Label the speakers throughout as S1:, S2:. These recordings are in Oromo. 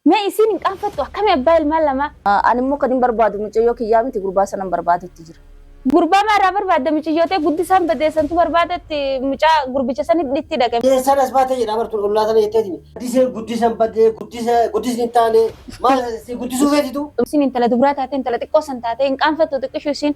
S1: Mee isiin hin qaanfattu akkami abbaa ilmaan lamaa. Ani immoo kanin barbaadu
S2: micayyoo kiyyaa miti gurbaa sanan barbaadutti jira. Gurbaa maa irraa
S1: barbaadda miciyyoo tee guddisaan badee santu barbaada itti mucaa gurbicha san itti dhaqe. Eessaan as baatee jedhaa bar
S3: tun ollaa sana jetteeti miti. Guddisee guddisan badee guddisa guddisni hin taane maal si guddisuu feeti tuu. Isiin intala dubraa taatee
S1: intala xiqqoo san taatee hin qaanfattu xiqqishuu isiin.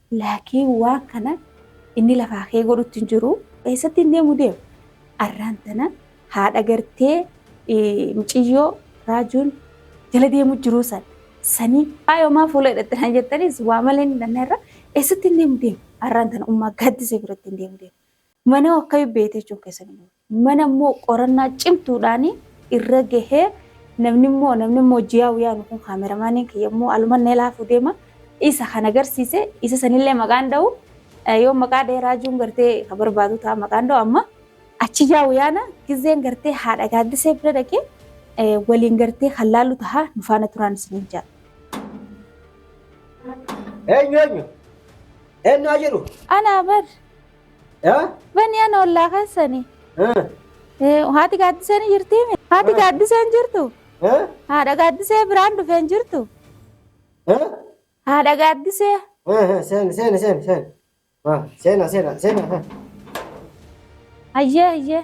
S1: Laakiin waan kana inni lafaa kee godhutti hin jiru. Eessatti hin deemu deema. Arraan tana haadha gartee miciyyoo raajuun jala deemu jiruu san. Sanii faayoo maa fuula hidhatte naan jettaniis waa malee hin dhanna irra eessatti hin deemu deema. Arraan tana ummaa gaaddisee biratti hin deemu deema. Mana akka beete jechuun keessan hin oolu. Mana immoo qorannaa cimtuudhaan irra gahee namni immoo namni immoo jiyaa wiyaanu kun kaameramaaniin kiyya immoo alumanna ilaafuu deema isa kan agarsiise isa sanillee maqaan dha'u eh, yoo maqaa dha'ee raajuun gartee ka barbaadu ta'a maqaan dha'u amma achi jiyaa wiyaana gizeen gartee haadha gaaddisee bira dhaqee eh, waliin gartee kan laallu ta'a nu faana turaan isiniin ja'a.
S3: Eenyu eenyu? Eenyu haa jedhu? Anaa bar
S1: Eh? Bani ana ollaa keessani. Eh? Eh, Haati gaaddiseen hin jirtii mi? Haati gaaddiseen hin jirtu. Eh? Haadha gaaddisee biraan dhufee hin jirtu. Eh? Haadha gaaddisee. Eh, eh, Seeni, seeni, seeni, seeni. Ah,
S3: Seena, seena, seena. eh.
S1: Ayyee ayyee.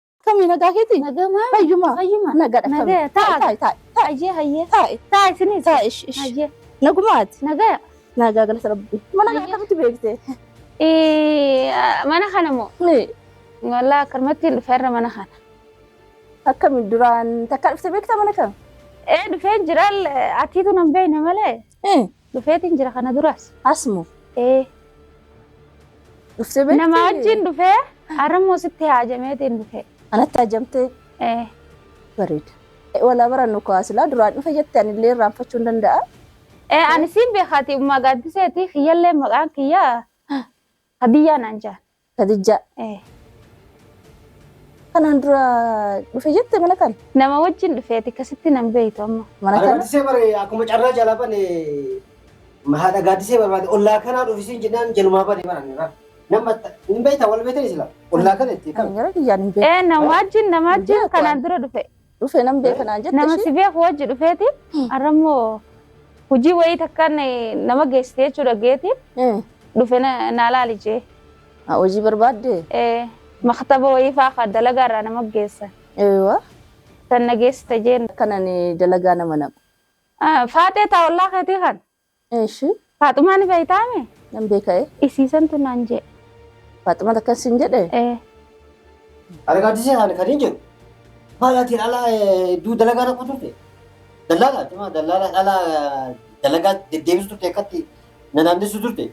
S2: Kamii nagaa keeti? Nagama. Fayyuma.
S1: Fayyuma. Nagadha. Nagaya.
S2: Taa'i. Taa'i. Taa'i. Taa'i. Hayyee hayyee.
S1: Taa'i. Taa'i isinis. Taa'i. Ish. Ish. Hayyee.
S2: Nagumaati.
S1: Nagaya.
S2: Nagaa
S1: galata rabbi. Mana kana
S2: Hayyee. akkamitti beekte? Ee,
S1: Mana kana moo? Ni.
S2: Walaa akkanumatti
S1: hin dhufe irra mana kana. Akkami
S2: duraan takka dhufte beekta mana kana? Ee dhufee
S1: jiraan atiitu nan beekne malee. Eh. Dhufeetiin jira kana duras. Asmo. Ee.
S2: Dhuftee beekti? Nama wajjin dhufee
S1: har'ammoo sitti haajameetiin dhufee. Anatti hajamtee
S2: Ee. bareeda. Walaa barannu kaa silaa duraan dhufe jette anillee irraanfachuu hin danda'a. Ee ani
S1: siin beekaati ummaa gaaddiseeti kiyyallee maqaan kiyya Hadiyyaa naan jaan. Kadijjaa. Eh.
S2: Kanaan dura dhufe jette mana kana. Nama wajjin dhufeeti
S1: akkasitti nan beektu amma. Mana kana. Gaaddisee bare
S3: akkuma carraa jalaa bane haadha gaaddisee barbaade ollaa kanaa dhufisiin jennaan jalumaa bane baran irraa. Nama hin beektaa wal beektan isla ollaa kana itti kan. Gara kiyyaan hin beeku.
S2: Eh nama wajjin
S1: nama wajjin Beeku kanaan ani. dura dhufe. Dhufee nan beeka naan
S2: jette Nama ishee. si beeku wajji
S1: dhufeeti. Arrammoo hojii wayii takkaan eh, nama geessite jechuu dhageeti. Eh, Dhufe na na laali jee. haa hojii
S2: barbaadde? Eh, Maktaba
S1: wayii faa ka dalagaa irraa nama geessa. Eewa.
S2: Tan na geessite
S1: jeen. Kanan dalagaa
S2: nama naqu. Ah, Faaxee
S1: taawullaa keetii kan. Eeshi.
S2: Faaxumaa ni
S1: beektaame? Nan beeka'e.
S2: Isiisantu naan jee.
S1: Faaxuma
S2: takkan siin jedhe. Ee.
S3: Argaadisee ani kan hin jedhu baay'aatiin ala hedduu dalagaa dhaqu turte. Dallaalaa cimaa dallaalaa dhalaa dalagaa deddeebistu turte akkatti na naannessu turte.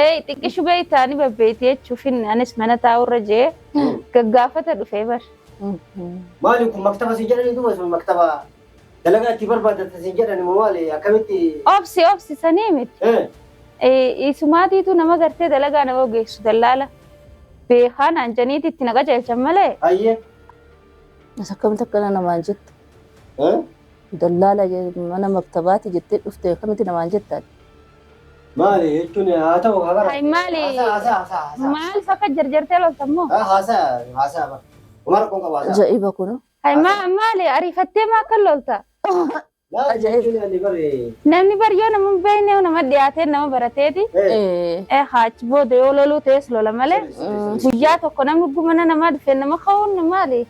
S2: Eey xiqqishu beeytaa ni babbeeyti jechuu finne anis mana taa'uu irra je'ee gaggaafata dhufee bar. Maali
S3: kun maktaba siin jedhanii duuba sun maktaba dalagaa itti barbaadatan siin jedhani moo maali akkamitti. Obsi obsi
S2: sanii miti. Ee isumaatiitu nama gartee dalagaa nama geessu dallaala beekaa naan janiiti itti na qajeelchan malee. Hayyee. As akkamitti akkana namaan jetta? Dallaala mana maktabaati jettee dhufte akkamitti namaan jettaan? Maali
S3: jechuun haa ta'u haa Hay maali? Haasaa haasaa
S2: haasaa haasaa. Maal fakka jarjartee lolta immoo? Ah, Haasaa
S3: haasaa bara. Homaa rakkoon qabu haasaa.
S2: Aja'iba kun. Hay ma- maali ariifattee maa akka lolta? Maali Ajaa'ib. jechuun ani bare. Namni bar yoo nama hin beekne nama dhiyaatee nama barateeti. Eh, Eh, Eh haachi booda yoo loluu ta'es lola malee. mm, Guyyaa tokko namni gumana namaa dhufe nama ka'uun maali?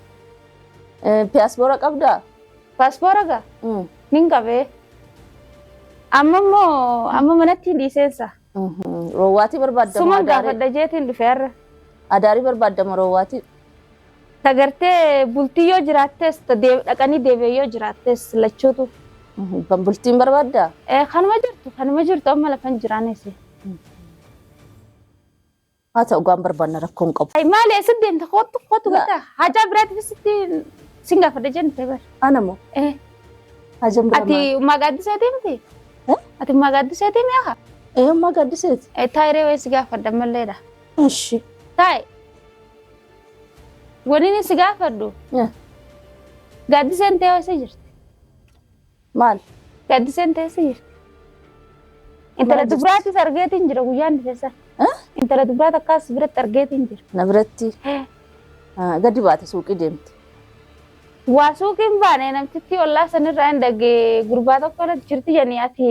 S2: eh, Piyaasboora qabdaa? Paaspoora gaa Mm. nin qabee. Amma immoo amma manatti dhiiseensa. Mhm. Roowwaatii barbaadda moo Suman adaarii? gaafadha jeetiin dhufe har'a. Adaarii barbaadda moo roowwaatii? Tagartee bultii yoo jiraattes ta- dee- dhaqanii deebi'ee yoo jiraattes lachuutu. Mhm. Ban bultiin barbaadda? Eh, Kanuma jirtu kanuma jirtu amma lafan jiraanis. Haa ta'u gaan barbaanna rakkoo hin qabu. Ay maali eessa deemta kottu kottu La- gata hajaa biraatti bisitti sin gaafadha jennite bar. Ana moo Eh hajam bira ati maal? ummaa gaaddisee deemte? Eh? Ati ummaa gaaddisee deemee haa? Eeyummaa gaaddiseeti. Eh taayiree wayii si gaafadha malleedha. Ishi. Taay waniin si gaafadhu Eh. gaaddiseen ta'ee wayii jirti. Maal? Gaaddiseen teessee jirti. Intala Maal dubraatis argeetiin jira guyyaan dhufeessa. Eh? Intala dubraa takkaas biratti argeetiin jira. Na biratti ah, gadi baate suuqii deemte. Waa suuqiin baane namtittii ollaa sanirraa hin dhagee gurbaa tokko irratti jirti jedhanii ati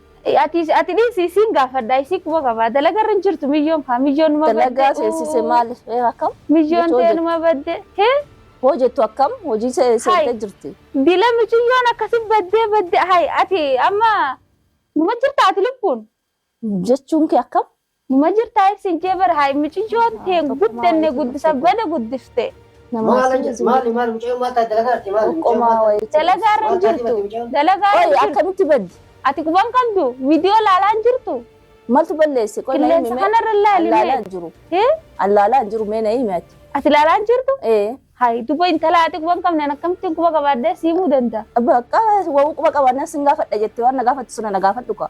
S3: Ati ati
S2: dhiisi isiin gaafadha isii quba qabaa dalagarra hin jirtu miyyoon kaa miyyoon numa badde. Dalagaa seensise maali? Ee akkam? Miyyoon Jechoo tee hojjetu. numa badde. Hee? Hoo jettu akkam? Hojii se- seentee jirti. Dila miciyyoon akkasi baddee badde hay ati amma numa jirta ati lubbuun. Jechuun kee akkam? Numa jirtaa ibsin jee bar haay miciyyoon tee guddanne guddisa bada guddifte. Maala jirti
S3: maali maali mucayyoo maal taate dalagaa irratti maali mucayyoo maal taate. Dalagaa
S2: irra hin jirtu. Dalagaa irra hin jirtu. Akkamitti baddi? Ati quba hin qabdu? Viidiyoo laalaa hin jirtu? Maltu balleesse? Qoy na himi mee. Qilleensa kanarra hin laali mee. Allaalaa hin jiru. Allaalaa hin jiru mee na himi ati. Ati laalaa hin jirtu? Ee. Hayi duba intala ati quba hin qabneen akkamittiin quba qabaaddee siimuu danda'a? Bakka wawuu quba qabaannaan sin gaafadha jettee waan na gaafattu sana na gaafadhu kaa.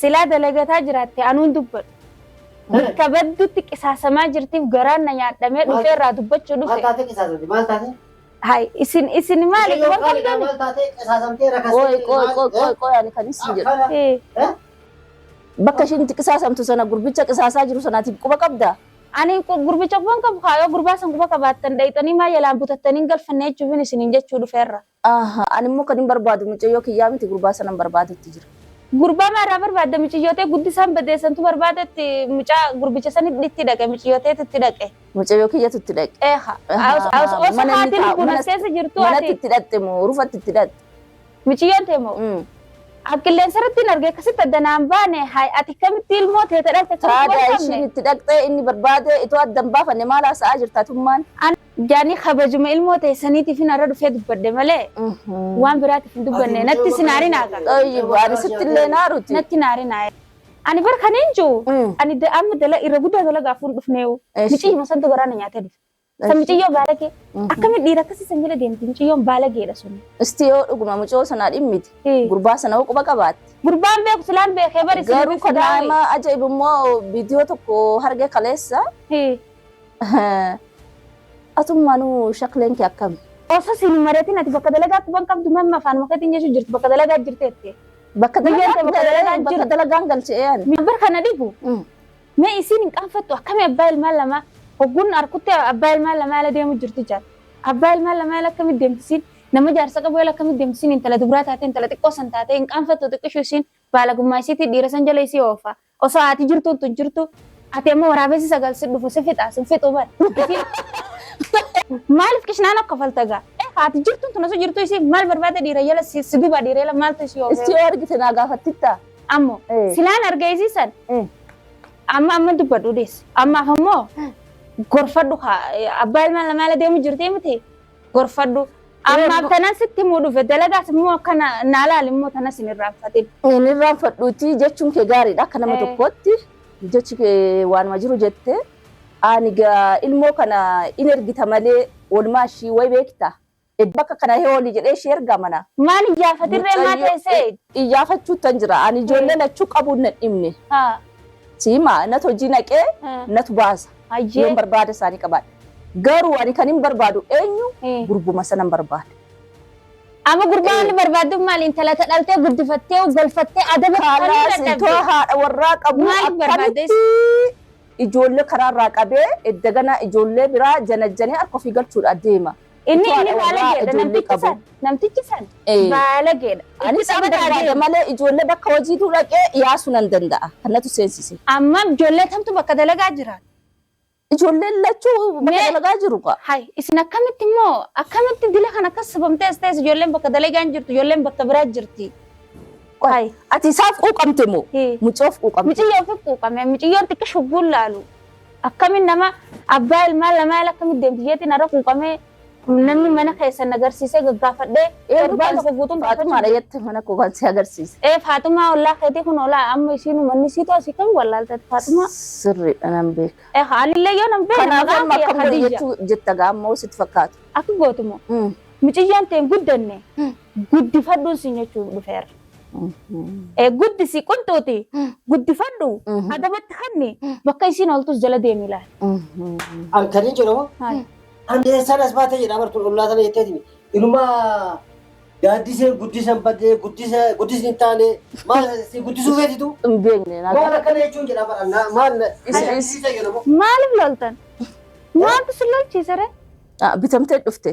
S2: Silaa dalagataa jiraatte anuun dubbadhu. Bakka baddutti qisaasamaa jirtiif garaan na nyaadhamee dhufee irraa dubbachuu dhufe. Maal taatee qisaasamte?
S3: Maal taatee? Hai isin
S2: isin maali Mucayyoo waan qaaliidha qabdan? maal taatee
S3: qisaasamtee rakastee Qoy qoy maal- qoy qoy qoy ani kan isin
S2: jedhu. Akkana. Eh, Eh? Bakka ishiin itti qisaasamtu sana gurbicha qisaasaa jiru sanaatiif quba qabda. Ani qu- gurbicha quban qabu kaayoo gurbaa san quba qabaattan dhayxanii maa yalaan butattanii hin galfanne jechuufin isiniin jechuu dhufe irra. Ahaa ani immoo kanin barbaadu mucayyoo kiyyaa miti gurbaa sanan barbaadutti jira. Gurbaa maa irraa barbaadda miciyyoo tee guddisaan badee santu barbaada itti mucaa gurbicha san itti dhaqe miciyyoo teetu itti dhaqe. Mucayyoo kiyyatu itti dhaqe. Ee ha os os os Mana inni haati taa'u lubbuun as manas keessa jirtu manatti ati itti dhaqxe moo rufatti itti dhaqxe. miciyyoon tee moo Mm. qilleensa irratti hin arge akkasitti adda naan baane hay ati akkamitti ilmoo teeta dhaqxe akkamitti Taada wal ishiin qabne. itti dhaqxe inni barbaade itoo addan baafanne maal haasa'aa jirta tummaan. Jaanii kabajuma ilmoo teessaniitifin har'a dhufee dubbadhe malee waan biraatiif hin dubbanne natti sin haarinaa kan. Xayyib ani sitti illee naaruti. Natti hin haarinaa. Ani bar kan hin jiru ani da- amma dala irra guddaa dalagaa fuun dhufneewu. Eesh. Miciyyuma santu garaa na nyaatee dhufe. San Eesh. miciyyoo baalagee. Akkamitti dhiira akkasii san jala deemti miciyyoon baalageedha sun. Isti yoo dhuguma mucoo sanaa dhimmiti. Eh. Gurbaa sana hoo quba qabaatti. Gurbaan beeku silaan beekee bari Garuu kan nama
S4: ajaa'ibu immoo viidiyoo tokko harge kaleessa. Hii. Atummaanuu shakleen kee akkam?
S2: Osoo siin hin mari'atin ati bakka dalagaa quban qabdu mamma afaanuma keetiin jechuu jirtu bakka dalagaa jirteetti. Bakka Biyyeen tee
S4: bakka dalagaa bakka jiru. dalagaan galchee ani. Mibir kana dhibu. Mm.
S2: Mee isiin hin qaanfattu akkami abbaa ilmaan lamaa hogguun harkutti abbaa ilmaan lamaa ala deemu jirti jaal. Abbaa ilmaan lamaa ala akkami deemtisiin nama jaarsa qabu ala akkami deemtisiin intala dubraa taatee intala xiqqoo san taatee hin qaanfattu xiqqishu isiin baalagummaa isiitii dhiira san jala isii oofaa. Osoo haati jirtuu utuu jirtuu. Ati amma waraabessi sagal si dhufu si fixaa sin fixuu bar. Maalif kishnaa na kofalta gaa. Eh haati jirtuun tun osoo jirtuu isii maal barbaada dhiira jala si si gubaa dhiira jala maaltu isii oofee. Issi yoo argite naa gaafattitta.
S4: Ammo Eh.
S2: silaan arga isii san Eh. amma amma dubbadhu deessi. Ammaaf ammoo gorfadhu haa abbaa ilmaan lamaa ala deemu jirti miti. gorfadhu. Ammaaf tanan sitti himuu dhufe dalagaas immoo akka na naa laali immoo tanas hin irraanfatin. Hin irraanfadhuuti
S4: jechuun kee gaariidha akka nama Eh. tokkootti jechi kee waanuma jiru jette ani gaa ilmoo kana in ergita malee walumaa ishii way beekta bakka kana hee olii jedhee ishii ergaa mana Maal iyyaafatirree
S2: maa Mucayyoo- teessee? iyyaafachuu tan jira
S4: ani ijoollee lachuu qabuun na dhimne Haa. siima natu hojii naqee haa. natu baasa Hayyee. Yoon barbaada isaanii qabaadhe. Garuu ani kan hin barbaadu eenyu Eh. gurbuma sanan barbaada. Amma
S2: gurbaa Eh. inni barbaaddu maali intala ta dhaltee guddifattee galfattee adaba Kaalaas qabdee itoo
S4: haadha warraa qabu Maaliif barbaadde?
S2: akkamitti
S4: ijoollee karaarraa qabee edda ganaa ijoollee biraa janajjanee harka ofii galchuudhaaf deema. Inni Utuu inni haadha warraa
S2: baalageedha ijoollee namtichi qabu. san namtichi san Ee. baalageedha. Itti Anis hin taphataa barbaada
S4: deema. malee ijoollee bakka hojiituu dhaqee yaasuu nan danda'a. Kanatu seensise. Amma ijoollee
S2: tamtu bakka dalagaa jiraata. Ijoolleen
S4: lachuu bakka Mee- dalagaa jiru kaa. Hay isin akkamitti
S2: immoo akkamitti dila kan akkas sabamtee as ta'es ijoolleen bakka dalagaa hin jirtu ijoolleen bakka biraa jirti. Hay
S4: Ati isaaf quuqamte moo? Ee. Mucoof quuqamte. miciyyoo fi quuqame
S2: miciyyoon xiqqishu bullaalu. Akkamiin nama abbaa ilmaan lamaa ala akkamitti deemti jeetii narra quuqamee namni mana keessan na garsiisee gaggaafadhee Eenyu torbaan kan tokko guutuun Faatumaadha gaafachuu jette mana koo
S4: kan si agarsiise. Ee Faatumaa ollaa
S2: keetii kun oolaa amma isiin uummanni siitu asii kan wallaaltee Faatumaa. Sirriidha nan
S4: beeka. Ee anillee yoo nan beekne
S2: Kanaaf maqaan amma kee akkam godhe Khadija.
S4: jechuu jetta gaa ammoo sitti fakkaata. Akka gootumoo Mm.
S2: miciyyoon ta'e hin guddanne Mm. guddifadhuun siin jechuun dhufeera. Eh, guddisi qunxuuti guddifadhu adabatti kanni bakka isiin ooltus jala deemi laal An kan hin
S3: jedhamu Maal? an eessaan as baate jedha bartuun ollaa sana jetteetimi. Inumaa gaaddisee guddisan badee guddisa guddisni hin taane maal si guddisuu feetitu Hin beekne maal laata.
S4: akkana jechuun jedha bara
S3: na- maal na- Is- is- is- fayyadamu. maaliif loltan
S2: maaltu si lolchiisere Ah, Bitamtee
S4: dhufte.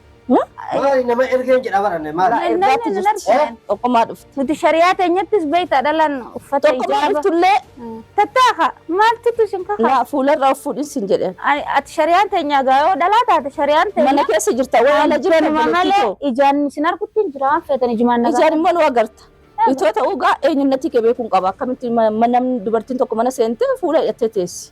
S3: Maali nama ergeen jedha baranne maali? Maali? Ergaatti Namni jirti. argine.
S4: Tokkummaa dhufte. Nuti shari'aa teenyattis
S2: beektaa dhalaan uffata Tokkummaa hijaaba. dhuftullee
S4: Tattaaqa
S2: maaltutu isin kakaa? naa fuularra of fuudhin
S4: sin jedheen. Ani- Ati shari'aan teenyaa
S2: gaa yoo dhalaa taate shari'aan Mana teenyaa. keessa jirta waan ala
S4: jiran Anuma malee obboleettitoo. ijaan
S2: isin argutti hin jira waan feetan ijumaan nagaa. Ijaan immoo nu agarta.
S4: Itoo ta'uu gaa eenyunnatti kee beekuun qaba. Akkamitti ma- ma- namni dubartiin tokko mana seentee fuula hidhattee teessi.